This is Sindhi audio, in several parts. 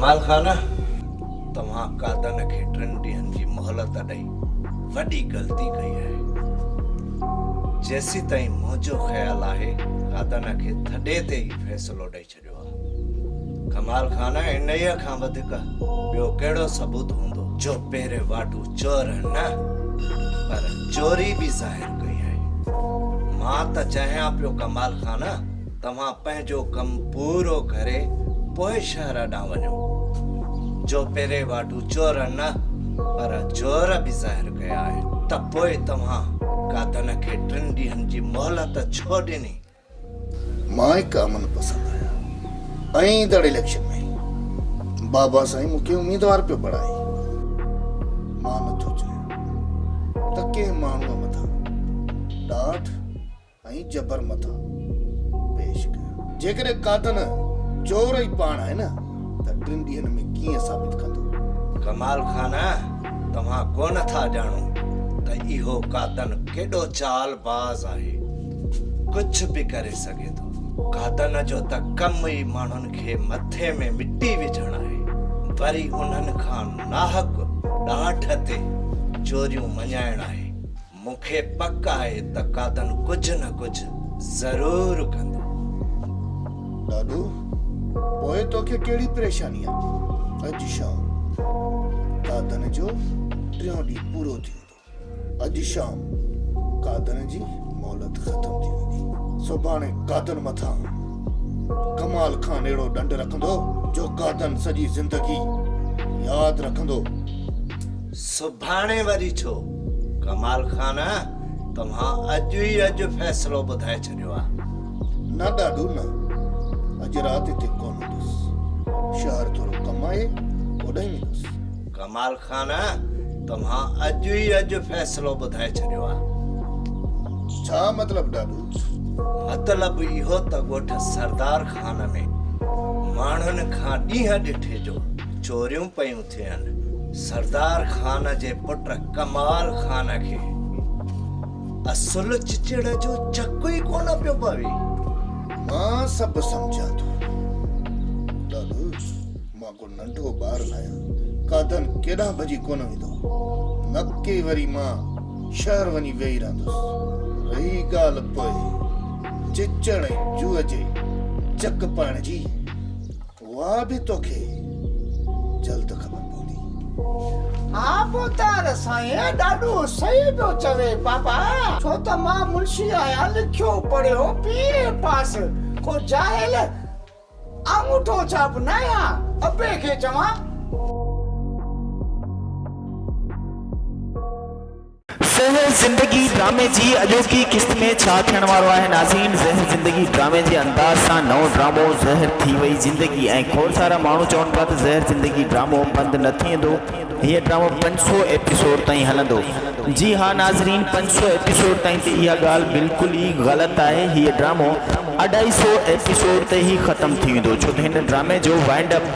ڪمال خان توهان قادن کي ٽن ڏينهن جي مهلت ڏئي وڏي غلطي ڪئي آهي. جيسيتائين منهنجو خيال آهي قادن کي ٿڏي تي ئي فيصلو ڏئي ڇڏيو. ڇڏيو آ. ڪمال خان انهيء کان وڌيڪ ٻيو ڪهڙو ثبوت هوندو؟ جو پهرين واٽو چور نه پر چوري به ظاهر ڪئي آهي. مان ته چاهيان پيو ڪمال خان توهان پنهنجو ڪم پورو ڪري پوء شهر ڏانهن وڃو. جو پهرين واٽو چور نه پر چور به ظاهر ڪيا آهن ته پوء توهان گادن کي ٽن ڏينهن جي مهلت ڇو ڏني؟ مان هڪ امن پسند آهيان ۽ ايندڙ اليڪشن ۾ بابا سائين مون کي اميدوار پيو بڻائي. مان نه ٿو چاهيان ته ڪنهن ماڻهوء مٿان ڏاٺ ۽ جبر مٿان پيش ڪيان. جيڪڏهن قاتل چور ئي پاڻ آهي نه ته ٽن ڏينهن ۾ ڪيئن ثابت ڪندو؟ ڪمال خان توهان ڪو نه ٿا ڄاڻو ته اهو قاتل ڪيڏو چال باز آهي. ڪجهه به ڪري سگهي ٿو. گادن جو ته ڪم ئي ماڻهن کي مٿي ۾ مٽي وجهڻ آهي، وري انهن کان ناحق ڏانٺ تي چوريون مڃائڻ آهي. مون کي پڪ آهي ته گادن ڪجهه نه ڪجهه ضرور ڪندو. ڏاڏو، پوء توکي ڪهڙي پريشاني آهي؟ اڄ شام گادن جو ٽيون ڏينهن پورو ٿي ويندو. اڄ شام قادن جي مهلت ختم ٿي ويندي. سڀاڻي قادن مٿان ڪمال خان اهڙو ڏنڊ رکندو جو قادن سڄي زندگي ياد رکندو. سڀاڻي وري ڇو؟ ڪمال خان توهان اڄ ئي اڄ فيصلو ٻڌائي ڇڏيو آ. نه ڏاڏو نه. اڄ رات هتي ڪونه هوندس. شهر ٿورو ڪم آهي اوڏانهن ويندس. ڪمال خان توهان اڄ ئي اڄ فيصلو ٻڌائي ڇڏيو آ. ڇا مطلب ڏاڏو؟ مطلب اهو ته ڳوٺ سردار خان ۾ ماڻهن کان ڏينهن ڏٺي جو چوريون پيون ٿين. سردار خان جي پٽ ڪمال خان کي اصل چچڙ جو چڪ ئي ڪونه پيو پوي. مان سڀ سمجهان ٿو ڏاڏو. ڪو ننڍو ٻار ناهيان، ڪا دن ڪيڏانهن ڀڄي ڪونه ويندو، نڪي وري مان شهر وڃي ويهي رهندس. رهي ڳالهه پوء چچڙ ۽ جوء جي چڪ پائڻ جي، اها به توکي جلد خبر پوندي. ها پوتر، سائين ڏاڏو صحيح پيو چوي بابا، ڇو ته مان منشي آهيان، لکيو پڙهيو بي اي پاس، ڪو جاهل. آڱوٺو ڇاپ نه يا ابي کي چوان. زهر زندگي ڊرامي جي اڄوڪي قسط ۾ ڇا ٿيڻ وارو آهي ناظرين زهر زندگي ڊرامي جي انداز سان نئون ڊرامو زهر ٿي وئي زندگي ۽ کوڙ سارا ماڻهو چون پيا ته زهر زندگي ڊرامو بند نه ٿيندو هيء ڊرامو پنج سؤ ايپيسوڊ تائين هلندو. جي ها ناظرين پنج سؤ ايپيسوڊ تائين ته اها ڳالهه بلڪل ئي غلط آهي هيء ڊرامو اڍائي سؤ ايپيسوڊ تي ئي ختم ٿي ويندو ڇو ته هن ڊرامي جو وائنڊ اپ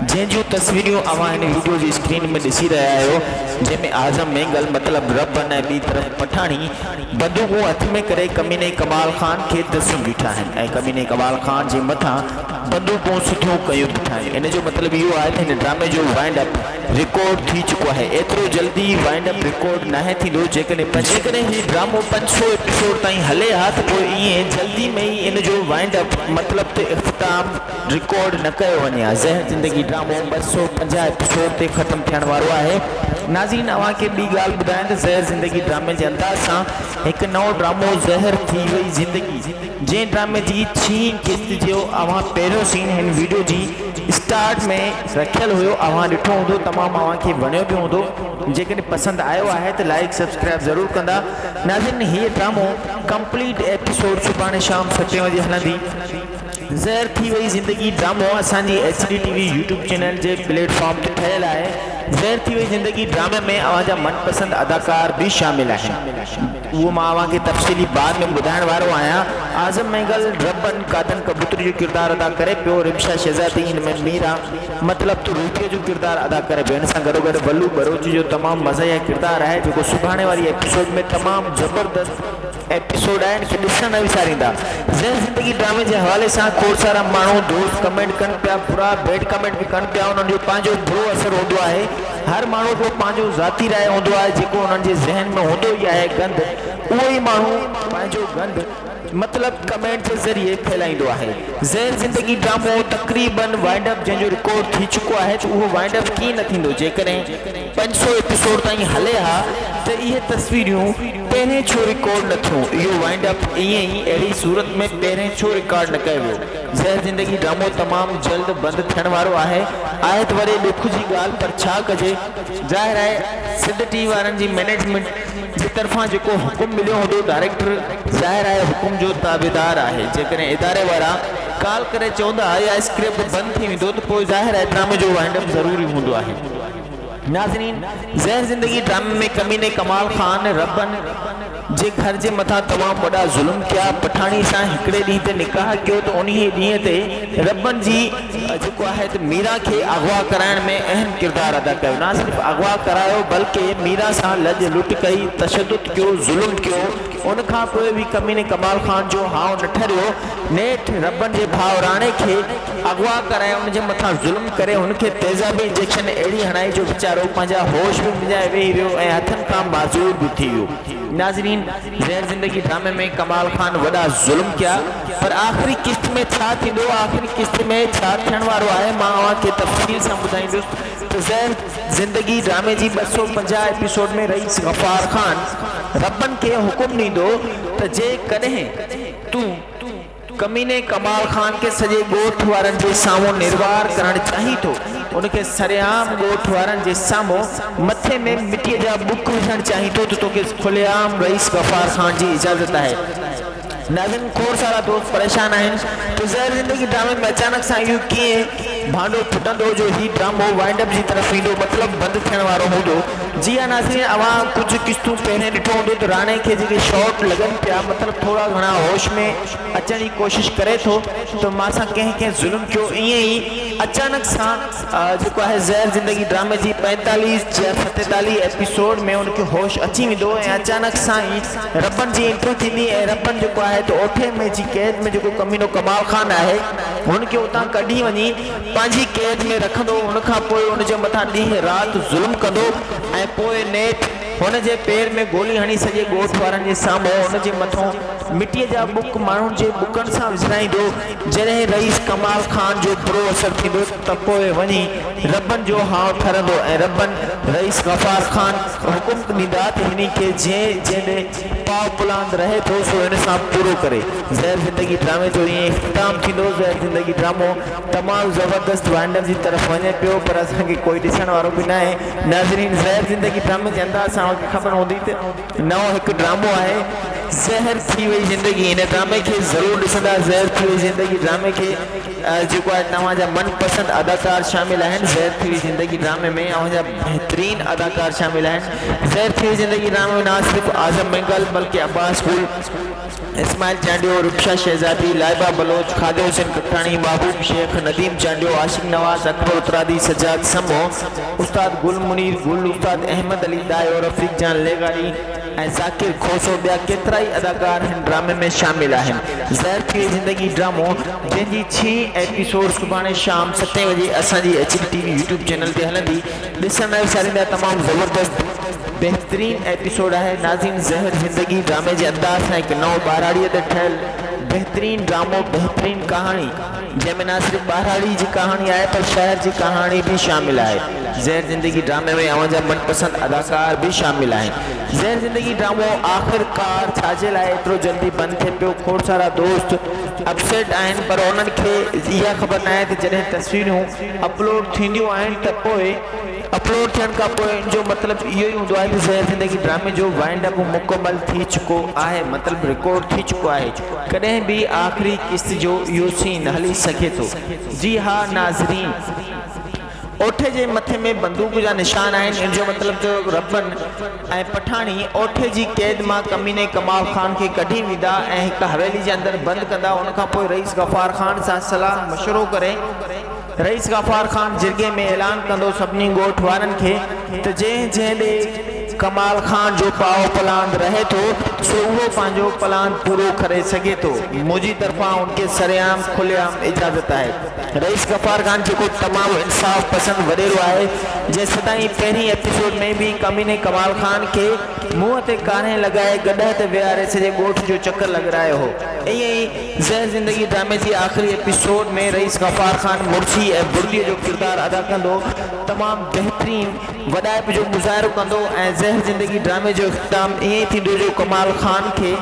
جنهن جون تصويريون اوهان هن ويڊيو جي اسڪرين ۾ ڏسي رهيا آهيو جنهن ۾ اعظم مينگل مطلب ربن ۽ ٻي طرف پٺاڻي بندوقون هٿ ۾ ڪري ڪميني ڪمال خان کي دسيون بيٺا آهن ۽ ڪميني ڪمال خان جي مٿان بندوقون سڌيون ڪيون بيٺائين ان جو مطلب اهو آهي ته هن ڊرامي جو وائنڊ اپ رڪارڊ ٿي چڪو آهي ايترو جلدي وائنڊ اپ رڪارڊ ناهي ٿيندو جيڪڏهن پنج جيڪڏهن هي ڊرامو پنج سؤ ايپيسوڊ تائين هلي ها ته پوء ايئن جلدي ۾ ئي ان جو وائنڊ اپ مطلب ته اختتام رڪارڊ نه ڪيو وڃي ها زهر زندگي ڊرامو ٻه سؤ پنجاهه ايپيسوڊ تي ختم ٿيڻ وارو آهي. ناظرين اوهان کي ٻي ڳالهه ٻڌايان ته زهر زندگي ڊرامي جي انداز سان هڪ نئون ڊرامو زهر ٿي وئي زندگي. جنهن ڊرامي جي ڇهين قسط جو اوهان پهريون سين هن ويڊيو جي اسٽارٽ ۾ رکيل هيو اوهان ڏٺو هوندو تمام اوهان کي وڻيو به هوندو جيڪڏهن پسند آيو آهي ته لائيڪ سبسڪرائيب ضرور ڪندا ناظرين هيء ڊرامو ڪمپليٽ ايپيسوڊ سڀاڻي شام ستين وڄي هلندي. زهر ٿي وئي زندگي ڊرامو اسان جي H D T V YouTube channel جي پليٽ فارم تي ٺهيل آهي زهر ٿي وئي زندگي ڊرامي ۾ اوهان جا من پسند اداڪار به شامل آهن. اهو مان اوهان کي تفصيلي بعد ۾ ٻڌائڻ وارو آهيان. اعظم مينگل ربن قادن ڪبوتري جو ڪردار ادا ڪري پيو، رمشا شهزادي ان ۾ ميرا مطلب ته روپيء جو ڪردار ادا ڪري پيو، ان سان گڏوگڏ ولو ٻروچ جو تمام مزاحيه ڪردار آهي جيڪو سڀاڻي واري ايپيسوڊ ۾ تمام زبردست ايپيسوڊ آهي ان کي ڏسڻ نه وساريندا زين زندگي ڊرامي جي حوالي سان کوڙ سارا ماڻهو دوست ڪمينٽ ڪن پيا برا بيڊ ڪمينٽ به ڪن پيا انهن جو پنهنجو برو اثر هوندو آهي. هر ماڻهو جو پنهنجو ذاتي راء هوندو آهي جيڪو انهن جي ذهن ۾ هوندو ئي آهي گند اهو ئي ماڻهو پنهنجو گند مطلب ڪمينٽ جي ذريعي ڦهلائيندو آهي ذهن زندگي ڊرامو تقريبا وائنڊ اپ جنهن جو رڪارڊ ٿي چڪو آهي ته اهو وائنڊ اپ ڪيئن نه ٿيندو جيڪڏهن پنج سؤ ايپيسوڊ تائين هلي ها ته اهي تصويريون پهرين ڇو رڪارڊ نه ٿيون اهو وائنڊ اپ ائين ئي اهڙي صورت ۾ پهرين ڇو رڪارڊ نه ڪيو ويو. زهر زندگي ڊرامو تمام جلد بند ٿيڻ وارو آهي آهت وڙي ڏک جي ڳالهه پر ڇا ڪجي. ظاهر آهي سنڌ ٽي وارن جي مئنيجمينٽ جي طرفان جيڪو حڪم مليو هوندو ڊائريڪٽر ظاهر آهي حڪم جو تابعدار آهي جيڪڏهن اداري وارا ڪال ڪري چوندا اها اسڪرپٽ بند ٿي ويندو ته پوء ظاهر آهي ڊرامي جو وائنڊ اپ ضروري هوندو آهي. ناظرين زهر زندگي ڊرامي ۾ ڪميني ڪمال خان ربن جي گهر جي مٿان تمام وڏا ظلم ڪيا پٺاڻي سان هڪڙي ڏينهن تي نڪاح ڪيو ته انهي ڏينهن تي ربن جي جيڪو آهي ته ميرا کي اغوا ڪرائڻ ۾ اهم ڪردار ادا ڪيو نه صرف اغوا ڪرايو بلڪه ميرا سان لڄ لٽ ڪئي تشدد ڪيو ظلم ڪيو ان کان پوء به ڪميني ڪمال خان جو هانء نه ٺريو نيٺ ربن جي ڀاء راڻي کي اغوا ڪرائي ان جي مٿان ظلم ڪري هن کي تيزابي انجيڪشن اهڙي هڻائي جو ويچارو پنهنجا هوش به وڃائي ويهي رهيو ۽ هٿن کان معذور به ٿي ويو. ناظرين زهر زندگي ڊرامي ۾ ڪمال خان وڏا ظلم ڪيا پر آخري قسط ۾ ڇا ٿيندو آخري قسط ۾ ڇا ٿيڻ وارو آهي مان اوهان کي تفصيل سان ٻڌائيندس ته زهر زندگي ڊرامي جي ٻه سؤ پنجاهه ايپيسوڊ ۾ رئيس غفار خان ربن کي حڪم ڏيندو ته جي ڪڏهن تون ڪميني ڪمال خان کي سڄي ڳوٺ وارن جي سامهون نروار ڪرڻ چاهي ٿو. ان کي سرعام ڳوٺ وارن جي سامهون مٿي ۾ مٽيء جا ٻڪ وجهڻ چاهي ٿو ته توکي کلي عام رئيس غفار خان جي اجازت آهي. ناظرين کوڙ سارا دوست پريشان آهن ته زهر زندگي ڊرامي ۾ اچانڪ سان اهو ڪيئن؟ ڀانڊو ڦٽندو جو هي ڊرامو وائنڊ اپ جي طرف ويندو مطلب بند ٿيڻ وارو هوندو. جي ها ناظرين اوهان ڪجهه قسطون پهرين ڏٺو هوندو ته راڻي کي جيڪي شاٽ لڳن پيا مطلب ٿورا گهڻا هوش ۾ اچڻ جي ڪوشش ڪري ٿو ته مان سان ڪنهن ڪنهن ظلم ڪيو ائين ئي اچانڪ سان جيڪو آهي زهر زندگي ڊرامي جي پنجيتاليهه يا ستيتاليهه ايپيسوڊ ۾ ان کي هوش اچي ويندو ۽ اچانڪ سان ئي ربن جي انٽري ٿيندي ۽ ربن جيڪو آهي ته اوٺي ۾ جي قيد ۾ جيڪو ڪمينو ڪمال خان آهي هن کي اتان ڪڍي وڃي پنهنجي قيد ۾ رکندو، ان کان پوء ان جي مٿان ڏينهن رات ظلم ڪندو ۽ پوء نيٺ هن جي پير ۾ گولي هڻي سڄي ڳوٺ وارن جي سامهون ان جي مٿون مٽيء جا ٻڪ ماڻهن جي ٻڪن سان وسرائيندو، جڏهن رئيس ڪمال خان جو برو اثر ٿيندو ته پوء وڃي ربن جو هانء ٺرندو ۽ ربن رئيس غفار خان کي حڪم ڏيندا ته هني کي جنهن جنهن ڏي پاء پلاند رهي ٿو سو ان سان پورو ڪري. زهر زندگي ڊرامي جو ائين اختتام ٿيندو. زهر زندگي ڊرامو تمام زبردست وائنڊر جي طرف وڃي پيو پر اسان کي ڪوئي ڏسڻ وارو به ناهي. ناظرين زهر زندگي ڊرامي جي انداز سان اوهان کي خبر هوندي ته نئون هڪ ڊرامو آهي زهر ٿي وئي زندگي ان ڊرامي کي ضرور ڏسندا زهر ٿي وئي زندگي ڊرامي کي جيڪو آهي توهان جا من پسند اداڪار شامل آهن زهر ٿي وئي زندگي ڊرامي ۾ اوهان جا بهترين اداڪار شامل آهن زهر ٿي وئي زندگي ڊرامي ۾ نه صرف اعظم مينگل بلڪه عباس گل اسماعيل چانڊيو ربشه شهزادي لائبه بلوچ خالد حسين ڪڪٽاڻي محبوب شيخ نديم چانڊيو عاشق نواز اڪبر اترادي سجاد سمو استاد گل منير گل استاد احمد علي ڏاهي اور رفيق جان لغاري ۽ ذاڪر کوسو ٻيا ڪيترائي اداڪار هن ڊرامي ۾ شامل آهن زهر پيئي زندگي ڊرامو جنهن جي ڇهين ايپيسوڊ سڀاڻي شام ستين وڄي اسان جي H D T V YouTube channel تي هلندي ڏسڻ لاء وساريندا تمام زبردست بهترين ايپيسوڊ آهي ناظرين زهر زندگي ڊرامي جي انداز سان هڪ نئون ٻهراڙيء تي ٺهيل بهترين ڊرامو بهترين ڪهاڻي. جنهن ۾ نه صرف ٻهراڙي جي ڪهاڻي آهي پر شهر جي ڪهاڻي به شامل آهي. زهر زندگي ڊرامي ۾ اوهان جا من پسند اداڪار به شامل آهن. زهر زندگي ڊرامو آخر ڪار ڇاجي لاء ايترو جلدي بند ٿئي پيو کوڙ سارا دوست اپسيٽ آهن پر انهن کي اها خبر ناهي ته جڏهن تصويرون اپلوڊ ٿينديون آهن ته پوء اپلوڊ ٿيڻ کان پوء ان جو مطلب اهو ئي هوندو آهي ته زهر زندگي ڊرامي جو وائنڊ اپ مڪمل ٿي چڪو آهي مطلب رڪارڊ ٿي چڪو آهي. ڪڏهن به آخري قسط جو اهو سين هلي سگهي ٿو. جي ها ناظرين. اوٺي جي مٿي ۾ بندوق جا نشان آهن ان جو مطلب ته ربن ۽ پٺاڻي اوٺي جي قيد مان ڪميني ڪمال خان کي ڪڍي ويندا ۽ هڪ حويلي جي اندر بند ڪندا ان کانپوء رئيس غفار خان سان صلاح مشورو ڪري رئيس غفار خان جرڳي ۾ اعلان ڪندو سڀني ڳوٺ وارن کي ته جنهن جنهن ڏي ڪمال خان جو پائو پلاند رهي ٿو سو اهو پنهنجو پلاند پورو ڪري سگهي ٿو منهنجي طرفان ان کي سرعام کلي عام اجازت آهي رئيس غفار خان جيڪو تمام انصاف پسند وڏيرو آهي جنهن سدائين پهرين ايپيسوڊ ۾ به ڪميني ڪمال خان کي منهن تي ڪارنهن لڳائي گڏهه تي ويهاري سڄي ڳوٺ جو چڪر لڳرائيو هو ائين ئي زهر زندگي ڊرامي جي آخري ايپيسوڊ ۾ رئيس غفار خان مڙسي ۽ بڙڪي جو ڪردار ادا ڪندو تمام بهترين وڏائپ جو مظاهرو ڪندو ۽ زهر زندگي ڊرامي جو اختتام ائين ئي ٿيندو جو ڪمال خان کي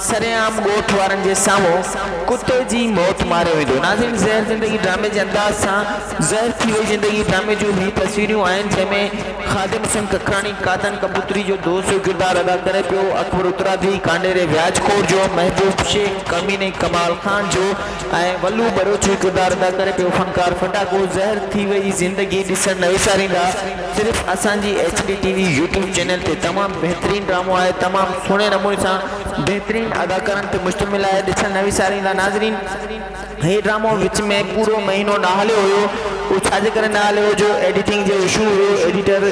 سرعام ڳوٺ وارن جي سامهون ڪتي جي موت ماريو ويندو ناظرين زهر زندگي ڊرامي جي انداز سان زهر ٿي وئي زندگي ڊرامي جون هي تصويريون آهن جنهن ۾ خادم حسين ککراڻي قادن ڪبوتري جو دوست جو ڪردار ادا ڪري پيو، اڪبر اترادي ڪانڊيري وياج خور جو، محبوب شيخ ڪميني ڪمال خان جو ۽ ولو ٻروچ جو ڪردار ادا ڪري پيو، فنڪار ڦٽاڪو، زهر ٿي وئي زندگي ڏسڻ نه وساريندا صرف اسان جي H D T V YouTube channel تي تمام بهترين ڊرامو آهي تمام سهڻي نموني سان بهترين اداڪارن تي مشتمل آهي ڏسڻ نه وساريندا ناظرين. هي ڊرامو وچ ۾ پورو مهينو نه هليو هيو اهو ڇا جي ڪري نه هليو هيو جو ايڊيٽنگ جو اشو هيو ايڊيٽر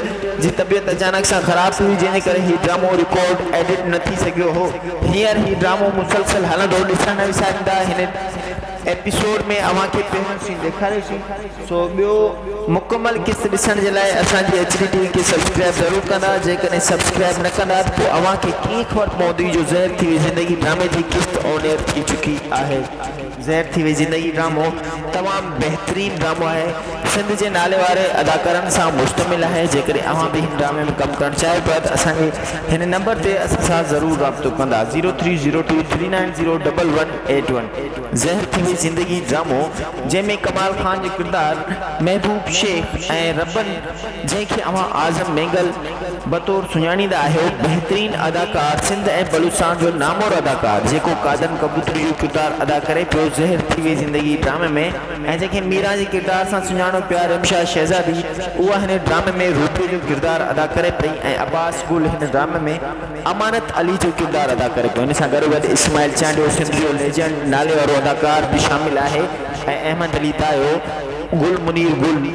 جي طبيعت اچانڪ سان خراب ٿي وئي جنهن جي ڪري هي ڊرامو رڪارڊ ايڊٽ نه ٿي سگهيو هو هينئر هي ڊرامو مسلسل هلندو ڏسڻ نه وساريندا هن ايپيسوڊ ۾ اوهان کي پهريون سين ڏيکاريسون. سو ٻيو مڪمل قسط ڏسڻ جي لاء اسان جي ايڇ ڊي ٽي وي کي سبسڪرائيب ضرور ڪندا جيڪڏهن سبسڪرائيب نه ڪندا ته پوء اوهان کي ڪيئن خبر پوندي جو زهر ٿي وئي زندگي ڊرامي جي قسط آن ايئر ٿي چڪي آهي. زهر ٿي وئي زندگي ڊرامو تمام بهترين ڊرامو آهي سنڌ جي نالي واري اداڪارن سان مشتمل آهي جيڪڏهن اوهان به هن ڊرامي ۾ ڪم ڪرڻ چاهيو پيا ته اسان جي هن نمبر تي اسان سان ضرور رابطو ڪندا zero three zero two three nine zero double one eight one زهر ٿي وئي زندگي ڊرامو جنهن ۾ ڪمال خان جو ڪردار محبوب شيخ ۽ ربن جنهن کي اوهان اعظم مينگل بطور سڃاڻيندا آهيو بهترين اداڪار سنڌ ۽ بلوچستان جو نامور اداڪار جيڪو قادن ڪبوتري جو ڪردار ادا ڪري پيو زهر ٿي وئي زندگي ڊرامي ۾ ۽ جنهن کي ميران جي ڪردار سان سڃاڻو پيا رمشا شهزادي اها هن ڊرامي ۾ روبيء جو ڪردار ادا ڪري پئي ۽ عباس گل هن ڊرامي ۾ امانت علي جو ڪردار ادا ڪري ٿو. ان سان گڏو گڏ اسماعيل چانڊيو سنڌ جو ليجنڊ نالي وارو اداڪار به شامل آهي ۽ احمد علي دايو، گل منير گل،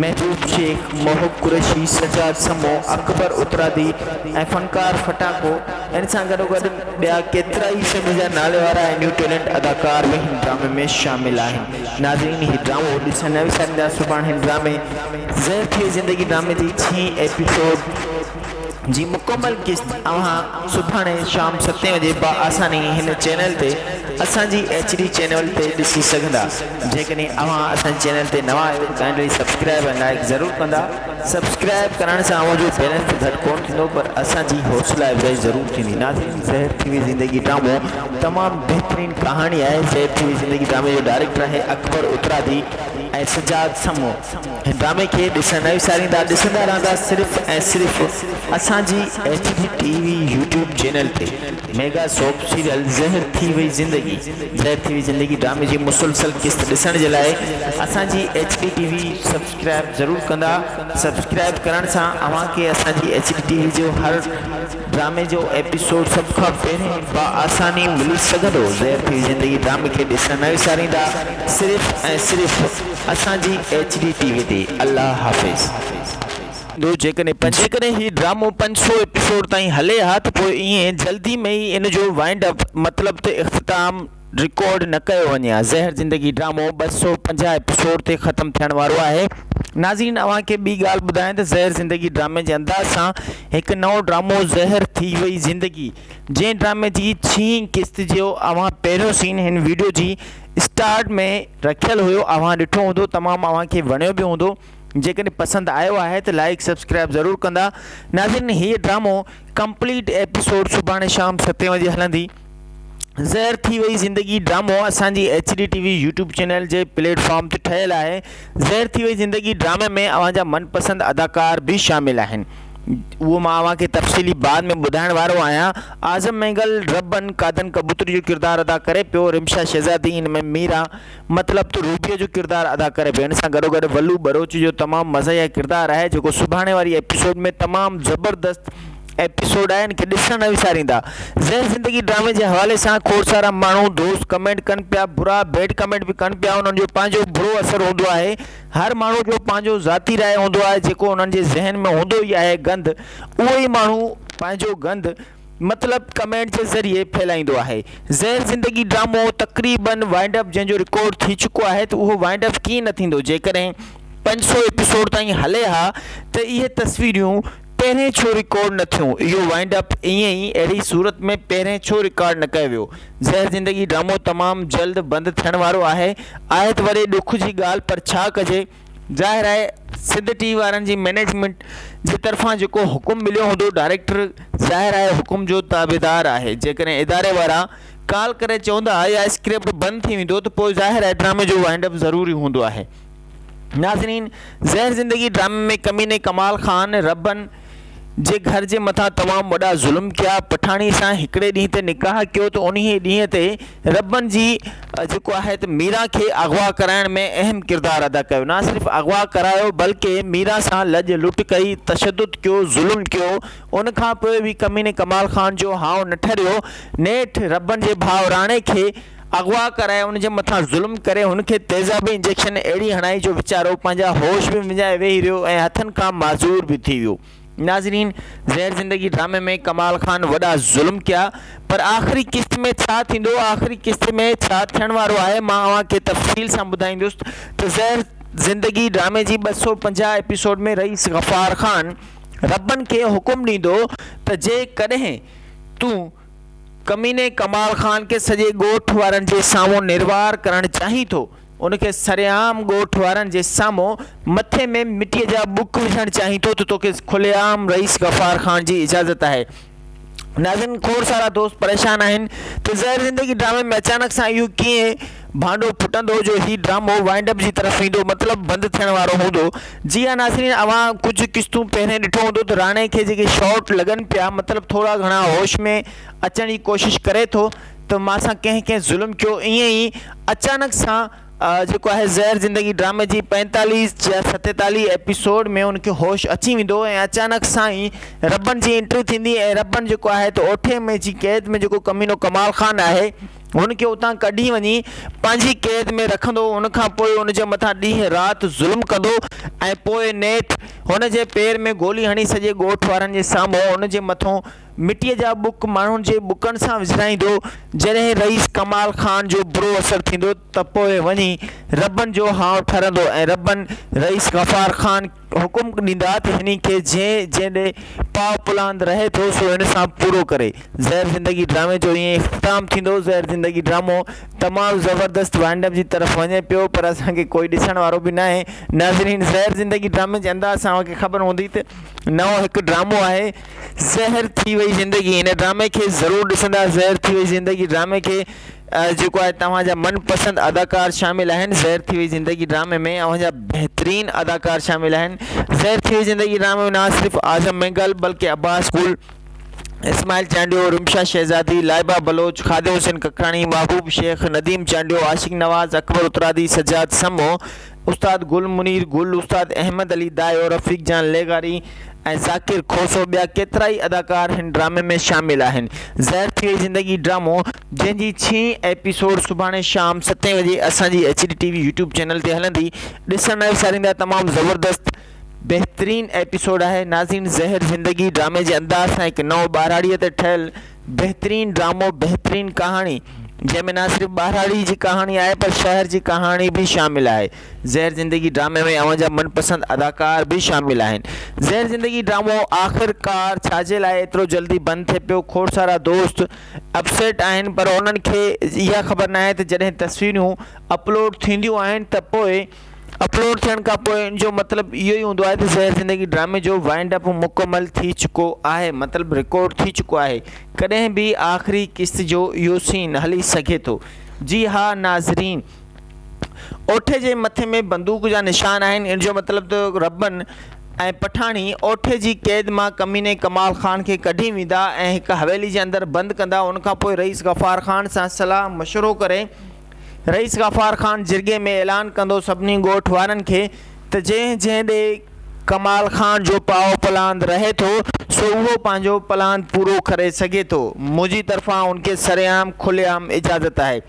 محبوب شيخ، محب قريشي، سجاد سمو، اڪبر اترادي ۽ فنڪار ڦٽاڪو ان سان گڏو گڏ ٻيا ڪيترائي سنڌ جا نالي وارا ۽ نيو ٽيلنٽ اداڪار به هن ڊرامي ۾ شامل آهن ناظرين هي ڊرامو ڏسڻ نه وساريندا سڀاڻ هن ڊرامي زهر ٿئي زندگي ڊرامي جي ڇهين ايپيسوڊ جي مڪمل قسط اوهان سڀاڻي شام ستين وڄي بآساني هن چينل تي اسان جي ايڇ ڊي چينول تي ڏسي سگهندا جيڪڏهن اوهان اسان جي چينل تي نوان آهيو ته ڪائنڊلي سبسڪرائب ۽ لائيڪ ضرور ڪندا سبسڪرائب ڪرڻ سان اوهان جو بيلنس ته گهٽ ڪون ٿيندو پر اسان جي حوصلا افزائي ضرور ٿيندي ناظرين زهر ٿي وئي زندگي ڊرامو تمام بهترين ڪهاڻي آهي زهر ٿي وئي زندگي ڊرامي جو ڊائريڪٽر آهي اڪبر اترادي ۽ سجاد سمون هن ڊرامي کي ڏسڻ نه وساريندا ڏسندا رهندا صرف ۽ صرف اسان جي H D T V YouTube channel تي ميگا سوپ سيريل زهر ٿي وئي زندگي زهر ٿي وئي زندگي ڊرامي جي مسلسل قسط ڏسڻ جي لاء اسان جي H D T V subscribe ضرور ڪندا سبسڪرائب ڪرڻ سان اوهان کي اسان جي ايڇ ڊي ٽي وي جو هر ڊرامي جو ايپيسوڊ سڀ کان پهرين بآساني ملي سگهندو. زهر ٿي زندگي ڊرامي کي ڏسڻ نه وساريندا صرف ۽ صرف اسان جي ايڇ ڊي ٽي وي تي. الله حافظ. جيڪڏهن هي ڊرامو پنج سؤ ايپيسوڊ تائين هلي ها ته پوء ائين جلدي ۾ ئي ان جو وائنڊ اپ مطلب ته اختتام رڪارڊ نه ڪيو وڃي ها زهر زندگي ڊرامو ٻه سؤ پنجاهه ايپيسوڊ تي ختم ٿيڻ وارو آهي ناظرين اوهان کي ٻي ڳالهه ٻڌايان ته زهر زندگي ڊرامي جي انداز سان هڪ نئون ڊرامو زهر ٿي وئي زندگي جنهن ڊرامي جي ڇهين قسط جو اوهان پهريون سين هن ويڊيو جي اسٽارٽ ۾ رکيل هيو اوهان ڏٺو هوندو تمام اوهان کي وڻيو به هوندو جيڪڏهن پسند آيو آهي ته لائڪ سبسڪرائب ضرور ڪندا ناظرين هي ڊرامو ڪمپليٽ ايپيسوڊ سڀاڻي شام ستين وڄي هلندي زهر ٿي وئي زندگي ڊرامو اسان جي H D T V YouTube channel جي پليٽ فارم تي ٺهيل آهي زهر ٿي وئي زندگي ڊرامي ۾ اوهان جا من پسند اداڪار به شامل آهن اهو مان اوهان کي تفصيلي بعد ۾ ٻڌائڻ وارو آهيان اعظم مينگل ربن قادن ڪبوتري جو ڪردار ادا ڪري پيو رمشا شهزادي ان ۾ ميرا مطلب ته روبيء جو ڪردار ادا ڪري پيو ان سان گڏو گڏ ولو ٻروچ جو تمام مزاحيه ڪردار آهي جيڪو سڀاڻي واري ايپيسوڊ ۾ تمام زبردست ايپيسوڊ آهن کي ڏسڻ نه وساريندا زهر زندگي ڊرامي جي حوالي سان کوڙ سارا ماڻهو دوست ڪمينٽ ڪن پيا برا بيڊ ڪمينٽ به ڪن پيا انهن جو پنهنجو برو اثر هوندو آهي هر ماڻهو جو پنهنجو ذاتي راء هوندو آهي جيڪو انهن جي ذهن ۾ هوندو ئي آهي گند اهو ئي ماڻهو پنهنجو گند مطلب ڪمينٽ جي ذريعي ڦهلائيندو آهي زهر زندگي ڊرامو تقريبن وائنڊ اپ جنهن جو رڪارڊ ٿي چڪو آهي ته اهو وائنڊ اپ ڪيئن نه ٿيندو جيڪڏهن پنج سؤ ايپيسوڊ تائين هلي ها ته اهي تصويريون پهرين ڇو رڪارڊ نه ٿيون اهو وائنڊ اپ ائين ئي اهڙي صورت ۾ پهرين ڇو رڪارڊ نه ڪيو ويو زهر زندگي ڊرامو تمام جلد بند ٿيڻ وارو آهي آهي ته وڏي ڏک جي ڳالهه پر ڇا ڪجي ظاهر آهي سنڌ ٽي وي وارن جي مئنيجمينٽ جي طرفان جيڪو حڪم مليو هوندو ڊائريڪٽر ظاهر آهي حڪم جو تابعدار آهي جيڪڏهن اداري وارا ڪال ڪري چوندا يا اسڪرپٽ بند ٿي ويندو ته پوء ظاهر آهي ڊرامي جو وائنڊ اپ ضروري هوندو آهي ناظرين زهر زندگي ڊرامي ۾ ڪميني ڪمال خان ربن جي گهر جي مٿان تمام وڏا ظلم ڪيا پٺاڻي سان هڪڙي ڏينهن تي نڪاح ڪيو ته انهي ڏينهن تي ربن جي جيڪو آهي ته ميرا کي اغوا ڪرائڻ ۾ اهم ڪردار ادا ڪيو نه صرف اغوا ڪرايو بلڪه ميرا سان لڄ لٽ ڪئي تشدد ڪيو ظلم ڪيو ان کان پوء به ڪميني ڪمال خان جو هانء نه ٺريو نيٺ ربن جي ڀاء راڻي کي اغوا ڪرائي ان جي مٿان ظلم ڪري هن کي تيزابي انجيڪشن اهڙي هڻائي جو ويچارو پنهنجا هوش به وڃائي ويهي رهيو ۽ هٿن کان معذور به ٿي ويو ناظرين زهر زندگي ڊرامي ۾ ڪمال خان وڏا ظلم ڪيا پر آخري قسط ۾ ڇا ٿيندو آخري قسط ۾ ڇا ٿيڻ وارو آهي مان اوهان کي تفصيل سان ٻڌائيندس ته زهر زندگي ڊرامي جي ٻه سؤ پنجاهه ايپيسوڊ ۾ رئيس غفار خان ربن کي حڪم ڏيندو ته جي ڪڏهن تون ڪميني ڪمال خان کي سڄي ڳوٺ وارن جي سامهون نروار ڪرڻ چاهين ٿو. ان کي سرعام ڳوٺ وارن جي سامهون مٿي ۾ مٽيء جا ٻڪ وجهڻ چاهين ٿو ته توکي کلي عام رئيس غفار خان جي اجازت آهي. ناظرين کوڙ سارا دوست پريشان آهن ته زهر زندگي ڊرامي ۾ اچانڪ سان اهو ڪيئن ڀانڊو ڦٽندو جو هي ڊرامو وائنڊ اپ جي طرف ويندو مطلب بند ٿيڻ وارو هوندو جي ها ناظرين اوهان ڪجهه قسطون پهرين ڏٺو هوندو ته راڻي کي جيڪي شاٽ لڳن پيا مطلب ٿورا گهڻا هوش ۾ اچڻ جي ڪوشش ڪري ٿو ته مان سان ڪنهن ڪنهن ظلم ڪيو ائين ئي اچانڪ سان جيڪو آهي زهر زندگي ڊرامي جي پينتاليس يا ستيتاليس ايپيسوڊ ۾ ان کي هوش اچي ويندو ۽ اچانڪ سان ئي ربن جي انٽري ٿيندي ۽ ربن جيڪو آهي ته اوٺي ۾ جي قيد ۾ جيڪو ڪمينو ڪمال خان آهي هن کي اتان ڪڍي وڃي پنهنجي قيد ۾ رکندو ان کان پوء ان جي مٿان ڏينهن رات ظلم ڪندو ۽ پوء نيٺ هن جي پير ۾ گولي هڻي سڄي ڳوٺ وارن جي سامهون ان جي مٿو مٽيء جا ٻڪ ماڻهن جي ٻڪن سان وجهرائيندو جڏهن رئيس ڪمال خان جو برو اثر ٿيندو ته پوء وڃي ربن جو هانء ٺرندو ۽ ربن رئيس غفار خان حڪم ڏيندا ته هني کي جنهن جنهن ڏي پاء پلاند رهي ٿو سو هن سان پورو ڪري. زهر زندگي ڊرامي جو ائين اختتام ٿيندو. زهر زندگي ڊرامو تمام زبردست وائنڊپ جي طرف وڃي پيو پر اسان کي ڪوئي ڏسڻ وارو به ناهي. ناظرين زهر زندگي ڊرامي جي انداز سان اوهان کي خبر هوندي ته نئون هڪ ڊرامو آهي زهر ٿي وئي زندگي ان ڊرامي کي ضرور ڏسندا زهر ٿي وئي زندگي ڊرامي کي. جيڪو آهي توهان جا من پسند اداڪار شامل آهن زهر ٿي وئي زندگي ڊرامي ۾ اوهان جا بهترين اداڪار شامل آهن زهر ٿي وئي زندگي ڊرامي ۾ نه صرف اعظم مينگل بلڪه عباس گل اسماعيل چانڊيو رمشا شهزادي لائبه بلوچ خادم حسين ڪڪراڻي محبوب شيخ نديم چانڊيو عاشق نواز اڪبر اترادي سجاد سمو استاد گل منير گل استاد احمد علي دايو رفيق جان لغاري ۽ ذاڪر کوسو ٻيا ڪيترائي اداڪار هن ڊرامي ۾ شامل آهن زهر ٿي وئي زندگي ڊرامو جنهن جي ڇهين ايپيسوڊ سڀاڻي شام ستين وڄي اسان جي H D T V YouTube channel تي هلندي ڏسڻ نه وساريندا تمام زبردست بهترين ايپيسوڊ آهي ناظرين زهر زندگي ڊرامي جي انداز سان هڪ نئون ٻاراڙي تي ٺهيل بهترين ڊرامو بهترين ڪهاڻي جنهن ۾ نه صرف ٻاراڙي جي ڪهاڻي آهي پر شهر جي ڪهاڻي به شامل آهي زهر زندگي ڊرامي ۾ اوهان جا من پسند اداڪار به شامل آهن زهر زندگي ڊرامو آخر ڪار ڇاجي لاء ايترو جلدي بند ٿي پيو کوڙ سارا دوست اپسيٽ آهن پر انهن کي اها خبر ناهي ته جڏهن تصويرون اپلوڊ ٿينديون آهن ته پوء اپلوڊ ٿيڻ کان پوء ان جو مطلب اهو ئي هوندو آهي ته زهر زندگي ڊرامي جو وائنڊ اپ مڪمل ٿي چڪو آهي مطلب رڪارڊ ٿي چڪو آهي ڪڏهن به آخري قسط جو اهو سين هلي سگهي ٿو جي ها ناظرين اوٺي جي مٿي ۾ بندوق جا نشان آهن، ان جو مطلب ته ربن ۽ پٺاڻي اوٺي جي قيد مان ڪميني ڪمال خان کي ڪڍي ويندا ۽ هڪ حويلي جي اندر بند ڪندا، ان کان پوء رئيس غفار خان سان صلاح مشورو ڪري رئيس غفار خان جرڳي ۾ اعلان ڪندو سڀني ڳوٺ وارن کي ته جنهن جنهن ڏي ڪمال خان جو پائو پلاند رهي ٿو سو اهو پنهنجو پلاند پورو ڪري سگهي ٿو منهنجي طرفان ان کي سرعام کلي عام اجازت آهي.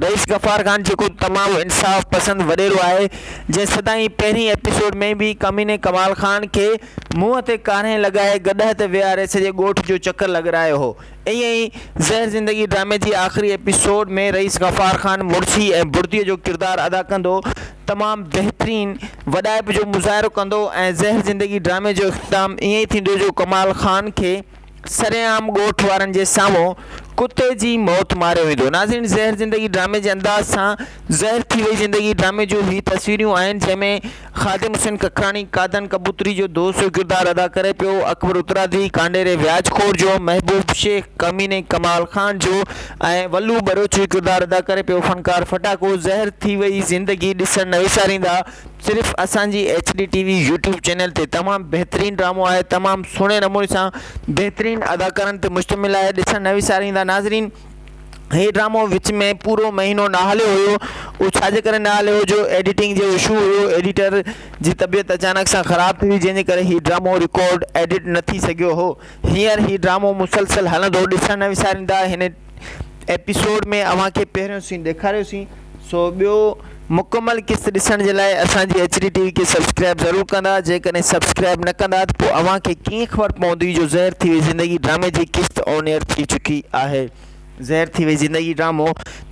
رئيس غفار خان جيڪو تمام انصاف پسند وڏيرو آهي جنهن سدائين پهرين ايپيسوڊ ۾ به ڪميني ڪمال خان کي منهن تي ڪارنهن لڳائي گڏهه تي ويهاري سڄي ڳوٺ جو چڪر لڳرايو هو ائين ئي زهر زندگي ڊرامي جي آخري ايپيسوڊ ۾ رئيس غفار خان مڙسي ۽ بڙدي جو ڪردار ادا ڪندو تمام بهترين وڏائپ جو مظاهرو ڪندو ۽ زهر زندگي ڊرامي جو اختتام ائين ٿيندو جو ڪمال خان کي سرعام ڳوٺ وارن جي سامهون ڪتي جي موت ماريو ويندو ناظرين زهر زندگي ڊرامي جي انداز سان زهر ٿي وئي زندگي ڊرامي جون هي تصويرون آهن جنهن ۾ خادم حسين ڪڪراڻي قادن ڪبوتري جو دوست جو ڪردار ادا ڪري پيو اڪبر اترادي ڪانڊيري وياج خور جو محبوب شيخ ڪميني ڪمال خان جو ۽ ولو ٻروچ جو ڪردار ادا ڪري پيو فنڪار ڦٽاڪو زهر ٿي وئي زندگي ڏسڻ نه وساريندا. صرف اسان جي H D T V YouTube channel تي تمام بهترين ڊرامو آهي تمام سهڻي نموني سان بهترين اداڪارن تي مشتمل آهي ڏسڻ نه وساريندا ناظرين هي ڊرامو وچ ۾ پورو مهينو نه هليو هيو اهو ڇاجي ڪري نه هليو هيو جو ايڊيٽنگ جو اشو هيو ايڊيٽر جي طبيعت اچانڪ سان خراب ٿي وئي جنهن جي ڪري هي ڊرامو رڪارڊ ايڊيٽ نه ٿي سگهيو هو هينئر هي ڊرامو مسلسل هلندو ڏسڻ نه وساريندا هن ايپيسوڊ ۾ اوهان کي پهريون سين ڏيکاريو سين سو ٻيو مڪمل قسط ڏسڻ جي لاء اسان جي ايچ ڊي ٽي وي کي سبسڪرائب ضرور ڪندا جيڪڏهن سبسڪرائب نه ڪندا ته پوء اوهان کي ڪيئن خبر پوندي جو زهر ٿي وئي زندگي ڊرامي جي قسط آن ايئر ٿي چڪي آهي زهر ٿي وئي زندگي ڊرامو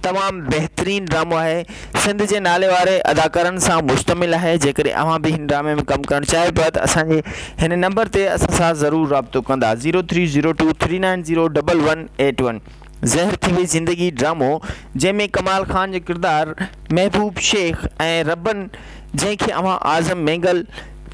تمام بهترين ڊرامو آهي سنڌ جي نالي واري اداڪارن سان مشتمل آهي جيڪڏهن اوهان به هن ڊرامي ۾ ڪم ڪرڻ چاهيو پيا ته اسان جي هن نمبر تي اسان سان ضرور رابطو ڪندا zero three zero two three nine zero double one eight one زهر ٿي وئي زندگي ڊرامو جنهن ۾ ڪمال خان جو ڪردار محبوب شيخ ۽ ربن جنهن کي اوهان اعظم مينگل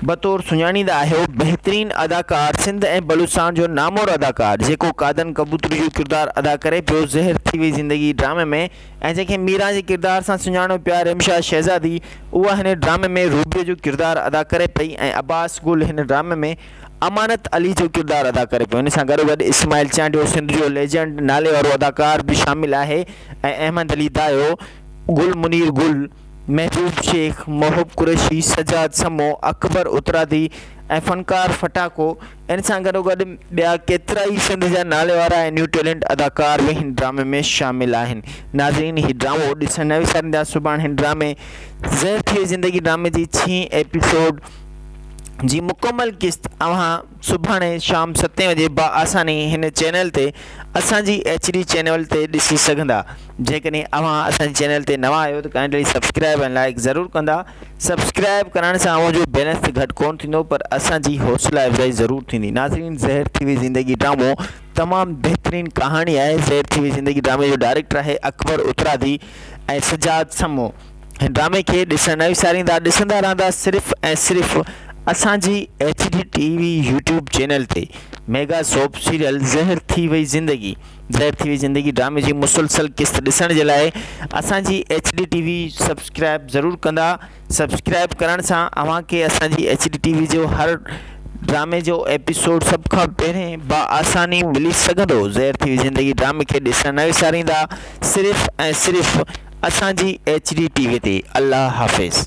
بطور سڃاڻيندا آهيو بهترين اداڪار سنڌ ۽ بلوچستان جو نامور اداڪار جيڪو قادن ڪبوتري جو ڪردار ادا ڪري پيو زهر ٿي وئي زندگي ڊرامي ۾ ۽ جنهن کي ميران جي ڪردار سان سڃاڻو پيا رمشا شهزادي اها هن ڊرامي ۾ روبيء جو ڪردار ادا ڪري پئي ۽ عباس گل هن ڊرامي ۾ امانت علي جو ڪردار ادا ڪري پيو ان سان گڏ گڏ اسماعيل چانڊيو سنڌ جو ليجنڊ نالي وارو اداڪار به شامل آهي ۽ احمد علي دايو گل منير گل محبوب شيخ محب قريشي سجاد سمو اڪبر اترادي ۽ فنڪار ڦٽاڪو ان سان گڏوگڏ ٻيا ڪيترائي سنڌ جا ناليوارا ۽ نيو ٽيلنٽ اداڪار به هن ڊرامي ۾ شامل آهن ناظرين هي ڊرامو ڏسڻ نه وساريندا سڀاڻ هن ڊرامي زهر ٿئي زندگي ڊرامي جي ڇهين ايپيسوڊ جي مڪمل قسط اوهان سڀاڻي شام ستين وڄي با آساني هن چينل تي اسان جي ايڇ ڊي چينل تي ڏسي سگهندا جيڪڏهن اوهان اسان جي چينل تي نوان آهيو ته ڪائنڊلي سبسڪرائب ۽ لائيڪ ضرور ڪندا سبسڪرائب ڪرڻ سان اوهان جو بيلنس ته گهٽ ڪونه ٿيندو پر اسان جي حوصلا افزائي ضرور ٿيندي ناظرين زهر ٿي وئي زندگي ڊرامو تمام بهترين ڪهاڻي آهي زهر ٿي وئي زندگي ڊرامي جو ڊائريڪٽر آهي اڪبر اترادي ۽ سجاد سمو هن ڊرامي کي ڏسڻ نه وساريندا ڏسندا رهندا صرف ۽ صرف اسان جي H D T V YouTube channel تي ميگا سوپ سيريل زهر ٿي وئي زندگي ظاهر ٿي وئي زندگي ڊرامي جي مسلسل قسط ڏسڻ جي لاء اسان جي H D T V subscribe ضرور ڪندا سبسڪرائب ڪرڻ سان اوهان کي اسان جي ايڇ ڊي ٽي وي جو هر ڊرامي جو ايپيسوڊ سڀ کان پهرين بآساني ملي سگهندو ظاهر ٿي وئي زندگي ڊرامي کي ڏسڻ نه وساريندا صرف ۽ صرف اسان جي ايڇ ڊي ٽي وي تي الله حافظ.